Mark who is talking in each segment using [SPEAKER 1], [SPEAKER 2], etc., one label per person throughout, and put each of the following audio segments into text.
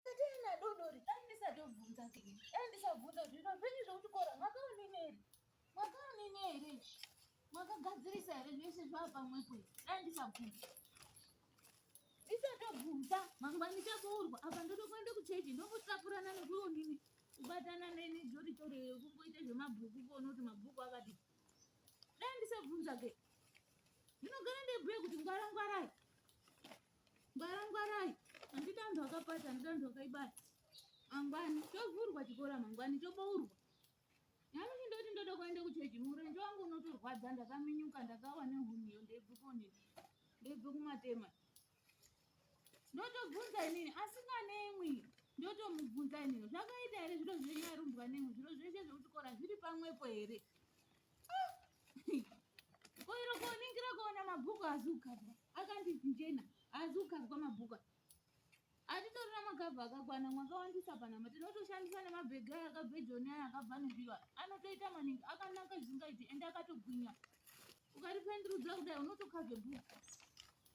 [SPEAKER 1] Katerina dodori, dai ndisatobvunza kei. Dai ndisabvunza kuti zviro zvenyu zvekuchikora mwakaonini here? Mwakaonini here? Mwakagadzirisa here zvese zvava pamwepo here? Dai ndisabvunza. Ndisatobvunza, mangwana ndichaboorwa. Apa ndotokuenda kuchechi, ndongotapurana nekuonini. Kubatana neni dzoritori kungoita zvemabhuku kuona kuti mabhuku akati. Dai ndisabvunza kei. Ndinogara ndebhuya kuti ngwara ngwarai. Ngwara ngwarai. Andida antu akapata, andida antu akaibaya. Mangwani chovhurwa chikora mangwani chobourwa. Nami chindoti ndoda kuenda kuchechi murenje wangu unotorwadza ndakaminyuka ndakawa nehuniyo ndebve koni. Ndebve kumatema. Ndotobvunza inini asikanemwi. Ndotomubvunza inini zvakaita here zviro zvenyu arumbwa nemwi zviro zveshe zvekuchikora zviri pamwepo here. koiro koningira kuona mabhuku haazi kugadzwa akanzi njena haazi kugadzwa mabhuku atitorina magabha akakwana mwakawandisa panama tinotoshandisa nemabhegi aya akabve joni aya akabva nobirwa anotoita maningi akanaka zvisingaiti ende akatogwinya ukaripendurudza kudai unotokazve bhuku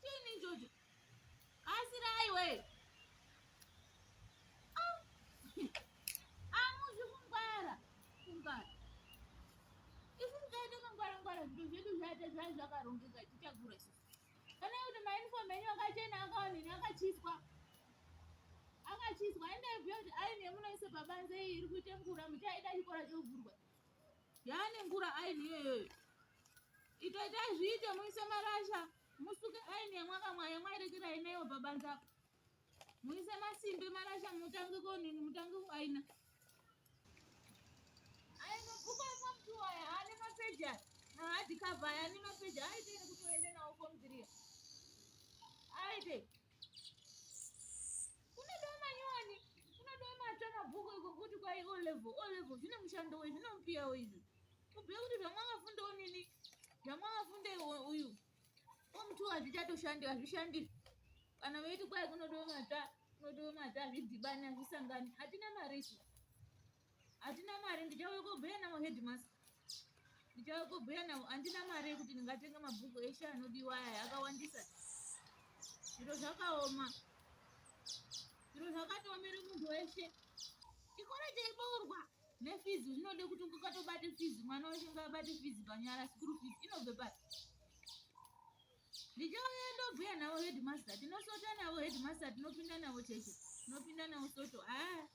[SPEAKER 1] Chini njojo? Kasirai we. Ah. Amuzi kungwara. Kungwara. Isi tikaita kungwara ngwara zvinhu zvedu zvaita zvai zvakarongeka tichagura sisi. Kana kuti mauniform enyu akachena akaonini akachiswa. Akachiswa ende bhiyo kuti aine munoisa pabanze iyi iri kuita ngura muchaida chikora chovhurwa. yaane ngura aini iyoyoyo itoitai zviite muise marasha musuke aini yamwakamwa yamwairekera inayo babanza muise masimbe marasha mutange konini mutange kuaina ainokubaima mtu waya haane mapeja haadikavha yaane mapeja aite nekutoende nawo komdhiria aite kwai o level o level zvine mushando we zvinomupiyawo izvi kubhuya kuti zvamwakafundawo nini zvamwakafundeyi uyu omuti hazvichatoshandi hazvishandi kana veiti kwai kunodiwe mata kunodiwe mata hazvidhibani hazvisangani hatina mari isu Hatina mari ndichauya kobhuya navo headmaster. Ndichauya kobhuya navo handina mari yekuti ndingatenga mabhuku eshe anodiwa aya akawandisa. Zviro zvakaoma. Zviro zvakatoomera munhu weshe. Chikoro chaiboorwa nefizi zvinode kuti ukatobate fizi mwana weshe ngaabate fizi panyara sikuru fizi inobve pati ndichauya ndobhuya navo headmaster tinosota navo headmaster tinopinda navo cheche tinopinda navo soto haa ah.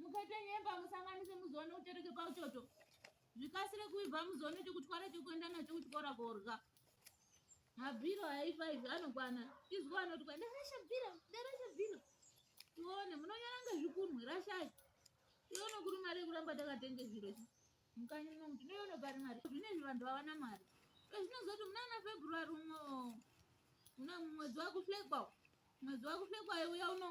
[SPEAKER 1] Mukatonyemba musanganise muzoona utereke pauchoto. Zvikasire kuibva muzoona chekutwara chekuenda nacho kuchikora korya. Mabhiro haifa izvi anokwana. Izwi anoti kwa ndarasha bhiro, ndarasha bhiro. Tione munonyara ngezvikunwe rashai. Tione kuri mari yekuramba takatenge zviro izvi. Mukanyi muno kuti noyono pari mari. Zvine izvi vanhu havana mari. Zvinozoti munana February umo. Muna mwedzi wakuhlekwa. Mwedzi wakuhlekwa uya uno.